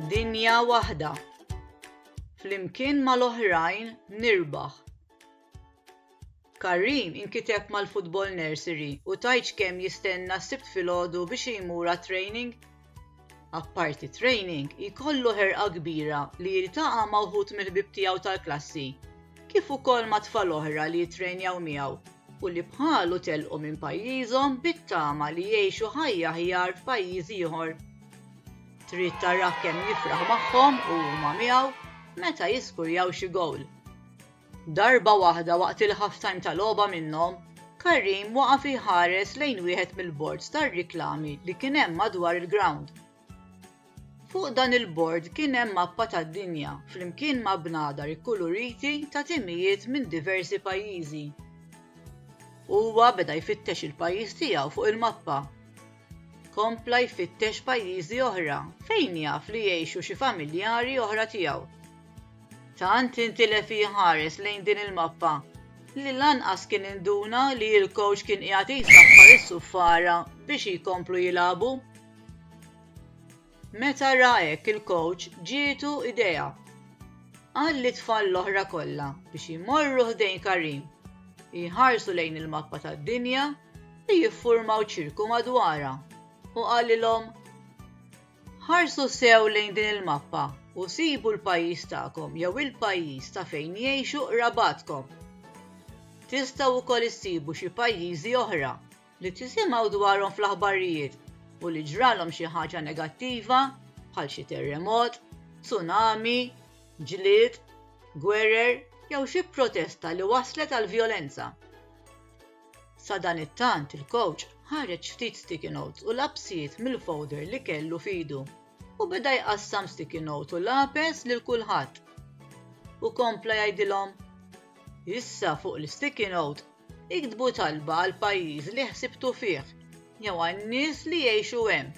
Dinja waħda. Flimkien mal-oħrajn nirbaħ. Karim inkiteb mal-Football Nursery u tajċ kemm jistenna sibt filgħodu biex jmur training. Apparti training, jkollu ħerqa kbira li jiltaqa' ma' wħud mill-ħbib tiegħu tal-klassi, kif ukoll ma' tfal oħra li jittrenjaw miegħu u li bħalu telqu minn pajjiżhom bit-tama li jgħixu ħajja aħjar f'pajjiż ieħor. Trid tarah kemm jifraħ magħhom u huma miegħu meta jiskurjaw xi gowl. Darba waħda waqt il-halftime ta' logħba minnhom, Karim waqaf iħares lejn wieħed mill-bords tar-riklami li kien hemm madwar il-grawnd Fuq dan il-bord kien hemm mappa tad-dinja flimkien ma' bnadar ikkuluriti ta' timijiet minn diversi pajjiżi. Huwa beda jfittex il-pajjiż tiegħu fuq il-mappa. Kompla jfittex pajjiżi oħra fejn jaf li jgħixu xi familjari oħra tiegħu. Tant intilef jħares lejn din il-mappa li lanqas kien induna li l-kowċ kien qiegħed jsaffar is-suffara biex jkomplu jilagħbu. Meta ra hekk il-kowċ ġietu idea. Qal lit-tfal l-oħra kollha biex jmorru ħdejn Karim, jħarsu lejn il-mappa tad-dinja u jiffurmaw ċirku madwarha u qalilhom, Ħarsu sew lejn din il-mappa u sibu l-pajjiż tagħkom jew il-pajjiż ta' fejn jgħixu qrabatkom. Tistgħu wkoll issibu xi pajjiżi oħra li tisimgħu dwarhom fl-aħbarijiet u li ġralhom xi ħaġa negattiva bħal xi terremot, tsunami, ġlied, gwerer jew xi protesta li wasslet għal vjolenza. Sadanittant il-kowċ ħareġ ftit sticky notes u lapsijiet mill-folder li kellu f'idu u beda jqassam sticky notes u lapes lil kulħadd. U kompla jgħidilhom, Issa fuq l-sticky note Iktbu talba għall-pajjiż li ħsibtu fih jew għan-nies li jgħixu hemm.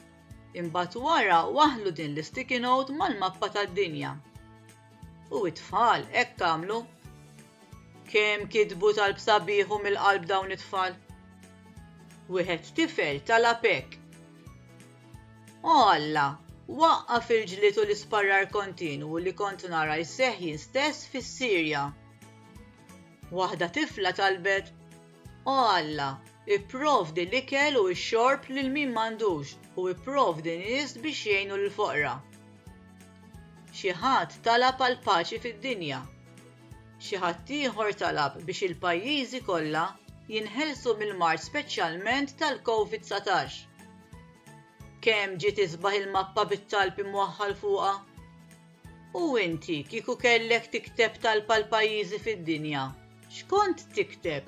Imbagħad wara waħħlu din l-isticky note mal-mappa tad-dinja. U t-tfal hekk għamlu. Kemm kitbu talb sabiħ u mill-qalb dawn it-tfal! Wieħed tifel talab hekk, O Alla, waqqaf il-ġlied u l-isparrar kontinwu li kont nara jseħħ jien stess fis-Sirja. Waħda tifla talbet, O Alla, ipprovdi l-ikel u x-xorb lil min m'għandux u ipprovdi nies biex jgħinu lill-foqra. Xi ħadd talab għall-paċi fid-dinja. Xi ħadd ieħor talab biex il-pajjiżi kollha jinħelsu mill-mard speċjalment tal-Covid 19. Kemm ġiet isbaħ il-mappa bit-talb imwaħħal fuqha? U inti kieku kellek tikteb talba l-pajjiżi fid-dinja, x'kont tikteb?